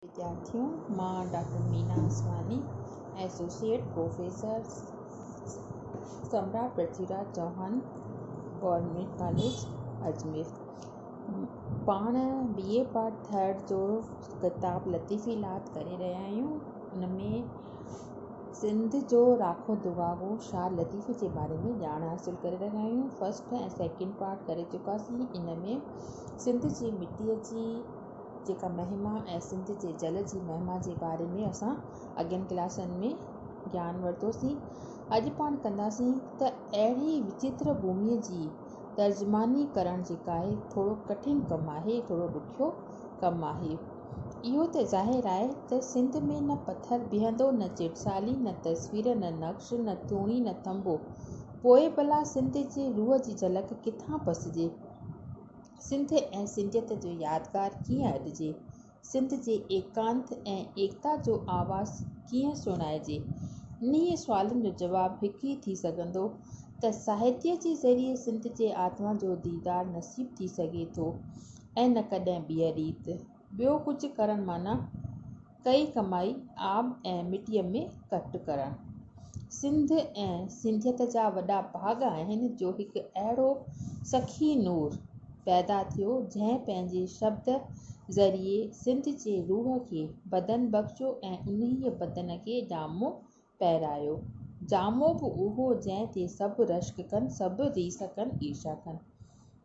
وديارٿيون، مان doctor Meena Ismaili, associate professor, Samrat Prithvi Raj Chauhan government college Ajmer, پاڻ B A part third جو ڪتاب لطيفي لات ڪري رهيا آهيون، ان ۾ سنڌ جو راکو دگاگو شاد لطيفي جي باري ۾ ڄاڻ حاصل ڪري رهيا آهيون، فرسٽ ۽ سيڪنڊ پارٽ ڪري چڪاسين، ان ۾ سنڌ جي مٽيء جي. جيڪا مهما ۽ سنڌ جي جل جي مهما جي باري ۾ اسان اڳين ڪلاسن ۾ گيان ورتوسين، اڄ پاڻ ڪنداسين ته اهڙي وچيتر ڀومي جي ترجماني ڪرڻ جيڪا آهي ٿورو ڪٺن ڪم آهي، ٿورو ڏکيو ڪم آهي. اهو ته ظاهر آهي ته سنڌ ۾ نه پٿر بيهندو، نه چٽسالي، نه تصوير، نه نقش، نه ٿوڻي، نه ٿنڀو، پوء ڀلا سنڌ جي روح جي جهلڪ ڪٿان پسجي؟ سنڌ ۽ سنڌيت جو يادگار ڪيئن اڏجي؟ سنڌ جي ايڪانت ۽ ايڪتا جو آواز ڪيئن سڻائجي؟ انهيء سوالن جو جواب هڪ ئي ٿي سگهندو ته ساهتيه جي ذريعي سنڌ جي آتما جو ديدار نصيب ٿي سگهي ٿو ۽ نه ڪڏهن ٻيء ريت. ٻيو ڪجهه ڪرڻ معنيٰ. ڪئي ڪمائي آب ۽ مٽيء ۾ ڪٽ ڪرڻ سنڌ ۽ سنڌيت جا وڏا ڀاڳ آهن جو هڪ اهڙو سخي نور پيدا ٿيو جنهن پنهنجي شبد ذريعي سنڌ جي روح کي بدن بخشيو ۽ انهيء بدن کي جامو پهرايو جامو به اهو جنهن تي سڀ رشڪ ڪن سڀ ريس ڪن عيشا ڪن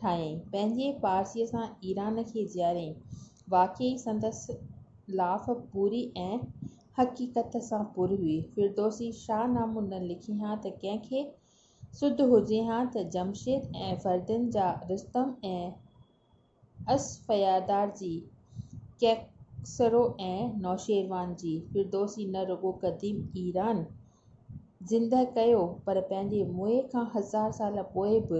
ٺاهيائين، پنهنجي پارسيء سان ايران کي جياريائين، واقعي سندس لاف پوري ۽ حقيقت سان پر هئي، فردوسي شاهه نامو نه لکي ها ته ڪنهن کي سڌ هجي ها ته جمشيد ۽ فردين جا رستم ۽ اسفيادار جي ڪيڪسرو ۽ نوشيروان جي، فردوسي نه رڳو قديم ايران، زندهه ڪيو پر پنهنجي موئي کان هزار سال پوء به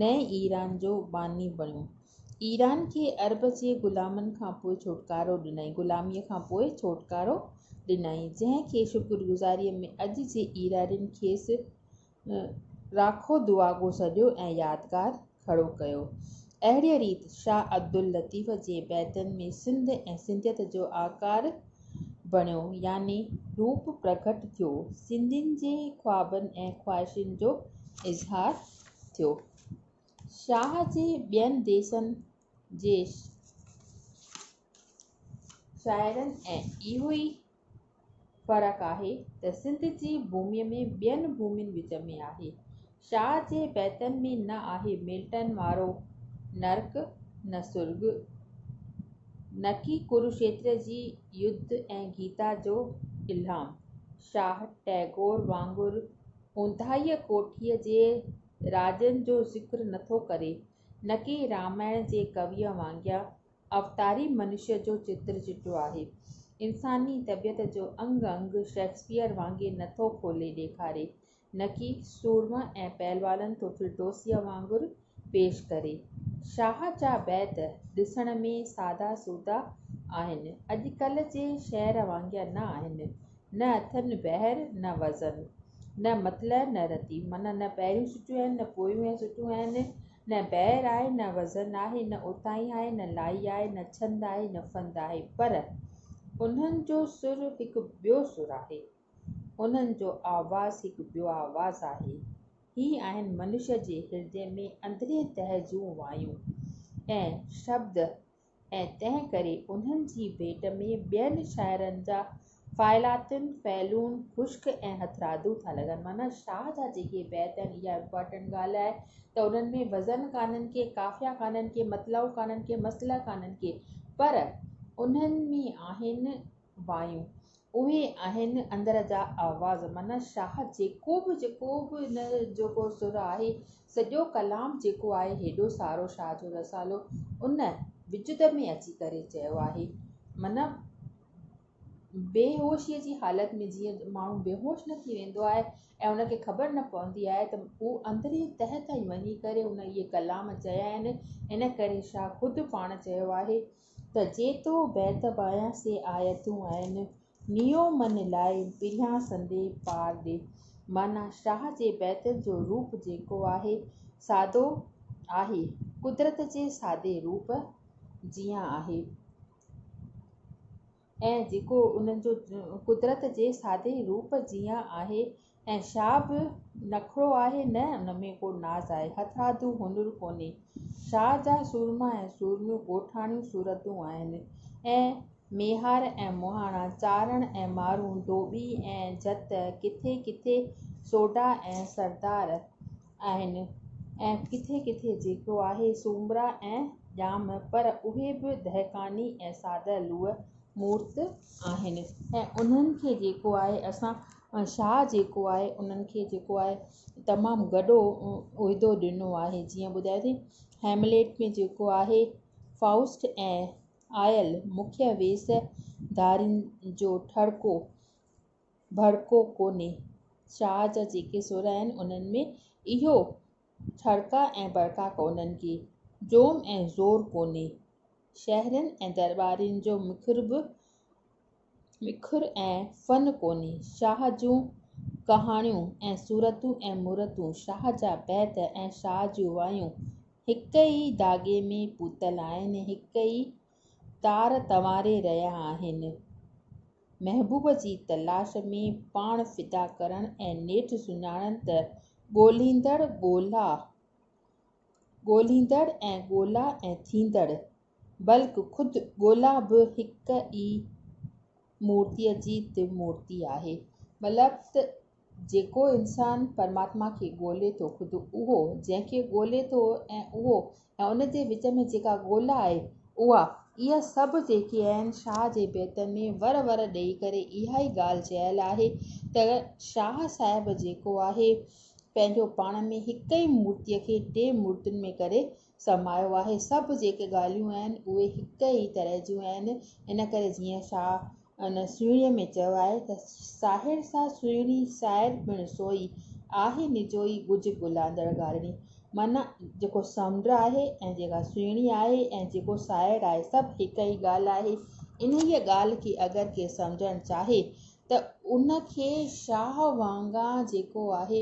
نئين ايران جو باني بڻيو ايران کي عرب جي غلامن کان پوء ڇوٽڪارو ڏنائين غلامي کان پوء ڇوٽڪارو ڏنائين جنهن کي شڪر گذاري ۾ اڄ جي ايرانين کيس راکو دعاگو سڏيو ۽ يادگار کڙو ڪيو. اهڙيء ريت شاهه عبداللطيف جي بيتن ۾ سنڌ ۽ سنڌيت جو آڪار بڻيو يعني روپ پرگهٽ ٿيو، سنڌين جي خوابن ۽ خواهشن جو اظهار ٿيو. شاهه جي ٻين ديسن جي شاعرن ۽ اهوئي فرق آهي ته سنڌ جي بومي ۾ ٻين بومين وچ ۾ آهي شاهه جي بيتن ۾ نه آهي ملٽن وارو نرڪ نه سرڳ نه ڪي ڪروشيتر جي يڌ ۽ گيتا جو الهام شاهه ٽئگور وانگر اونداهي ڪوٺي جي راڄن جو ذڪر نٿو ڪري نه ڪي رامائڻ جي ڪويء وانگر اوتاري منشيء جو چتر چٽو آهي. انساني طبيعت جو انگ انگ شيڪسپيئر وانگي نه ٿو کولي ڏيکاري، نڪي سورمه ۽ پهلوانن ٿو ڦلٽوسيء وانگر پيش ڪري. شاهه جا بيت ڏسڻ ۾ سادا سودا آهن، اڄڪلهه جي شعر وانگيان نه آهن، نه اٿن بحر نه وزن، نه مطلع نه رتي، معنيٰ نه پهريون سٽيون آهن نه پويون ۽ سٽون آهن، نه بحر آهي، نه وزن آهي، نه اوتائي آهي، نه لائي آهي، نه ڇند آهي، نه فند آهي، پر انهن جو سر هڪ ٻيو سر آهي، انهن جو آواز هڪ ٻيو آواز آهي، هي آهن منشيء جي هردي ۾ اندرين تهه جون وايون ۽ شبد، ۽ تنهن ڪري انهن جي ڀيٽ ۾ ٻين شاعرن جا فعلاتن فعلون خشڪ ۽ هٿرادو ٿا لڳن معنيٰ شاهه جا جيڪي بيت آهن اها امپارٽنٽ ڳالهه آهي ته انهن ۾ وزن ڪانهن ڪي قافيا ڪانهن ڪي مطلعو ڪانهن ڪي مصلح ڪانهن ڪي پر انهن ۾ آهن بايون اهي آهن اندر جا آواز معنيٰ شاهه جيڪو به جيڪو به ان جو ڪو سر آهي سڄو ڪلام جيڪو آهي هيڏو سارو شاهه جو رسالو ان وجد ۾ اچي ڪري چيو آهي معنيٰ بيهوشيء جي حالت ۾ جيئن ماڻهو بيهوش نه ٿي ويندو آهي ۽ ان کي خبر نه پوندي آهي ته هو اندري تهه تائين وڃي ڪري ان اهي ڪلام چيا آهن ان ڪري شاهه خود پاڻ چيو آهي ته جيتو بيت ٻايان سي آيتون آهن نيو من لاء پريان سندي پار ڏي معنيٰ شاهه جي بيتن جو روپ جيڪو آهي سادو آهي قدرت جي سادي روپ جيان آهي. ۽ جيڪو انهن جو قدرت جي سادي روپ جيان آهي ۽ شا به نخرو آهي نه ان ۾ ڪو ناز آهي هٿرادو هنر ڪونهي شا جا سورما ۽ سورميون ڳوٺاڻيون صورتون آهن ۽ ميهار ۽ مهاڻا چارڻ ۽ مارون ڌوٻي ۽ جت ڪٿي ڪٿي سوڍا ۽ سردار آهن ۽ ڪٿي ڪٿي جيڪو آهي سومرا ۽ ڄام پر اهي به دهقاني ۽ ساده لوح مورت آهن ۽ انهن کي جيڪو آهي اسان شاهه جيڪو آهي انهن کي جيڪو آهي تمام گڏو عهدو ڏنو آهي جيئن ٻڌايو ٿي هيمليٽ ۾ جيڪو آهي فائوسٽ ۽ آئل مکيه ويس ڌارين جو ٺڙڪو ڀڙڪو ڪونهي. شاهه جا جيڪي سر آهن انهن ۾ اهو ڇڙڪا ۽ ڀڙڪا ڪونهن ڪي جوم ۽ زور ڪونهي. شهرين ۽ درٻارين جو مکر به مکر ۽ فن ڪونهي. شاهه جون ڪهاڻيون ۽ صورتون ۽ مورتون، شاهه جا بيت ۽ شاهه جون وايون هڪ ئي ڌاڳي ۾ پوتل آهن، هڪ ئي تار تنواري رهيا آهن. محبوب جي تلاش ۾ پاڻ فدا ڪرڻ ۽ نيٺ سڃاڻن ته ڳولهيندڙ ڳولا ڳولهيندڙ ۽ ڳولا ۽ ٿيندڙ بلڪ خود ڳولا به هڪ ئي مورتي جي ترمورتي آهي. مطلب ته جيڪو انسان پرماتما کي ڳولي ٿو، خود اهو، جنهن کي ڳولي ٿو ۽ اهو ۽ ان جي وچ ۾ جيڪا ڳولا آهي اها، اهي سڀ جيڪي آهن، شاهه جي بيتن ۾ ور ور ڏئي ڪري اها ئي ڳالهه چيل آهي ته شاهه صاحب جيڪو آهي پنهنجو پاڻ ۾ هڪ ئي مورتيء کي ٽي مورتين ۾ ڪري سمايو آهي، سڀ جيڪي ڳالهيون آهن اهي هڪ ئي طرح جون آهن، ان ڪري جيئن شاهه. ان سهڻيء ۾ چيو آهي ته، ساهڙ سا سهڻي، سائر پڻ سوئي، آهي نجوئي ڳجهه ڳلاندڙ ڳاڙهڻي. معنيٰ، جيڪو سمنڊ آهي ۽ جيڪا سهڻي آهي ۽ جيڪو ساهڙ آهي، سڀ هڪ ئي ڳالهه آهي. انهيء ڳالهه کي اگر ڪي سمجهڻ چاهي ته ان کي شاهه وانگان جيڪو آهي،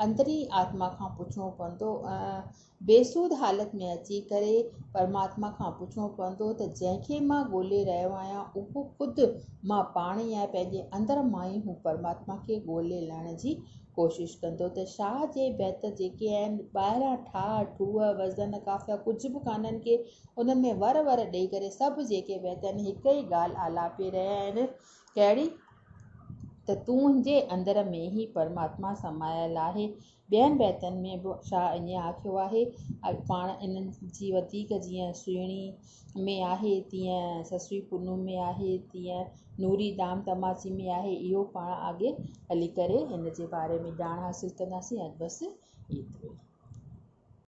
اندرين آتما کان پڇڻو پوندو ۽ بيسود حالت ۾ اچي ڪري پرماتما کان پڇڻو پوندو ته جنهن کي مان ڳولي رهيو آهيان اهو خود مان پاڻ ئي آهي پنهنجي اندر مان ئي هو پرماتما کي ڳولي لهڻ جي ڪوشش ڪندو ته شاهه جي بيت جيڪي آهن ٻاهران ٺاهه ٺوهه وزن قافيا ڪجهه به ڪانهن ڪي انهن ۾ ور ور ڏيئي ڪري سڀ جيڪي بيت آهن هڪ ئي ڳالهه آلاپي رهيا آهن ڪهڙي ته تنهنجي اندر ۾ ئي پرماتما سمايل آهي ٻين بيتن ۾ به شاهه ائين آکيو آهي. پاڻ انهن جي وڌيڪ جيئن سهڻي ۾ آهي، تيئن سسوي پنهون ۾ آهي، تيئن نوري دام تماچي ۾ آهي. اهو پاڻ آڳي هلي ڪري ان جي باري ۾ ڄاڻ حاصل ڪنداسين. اڄ بس ايترو ئي.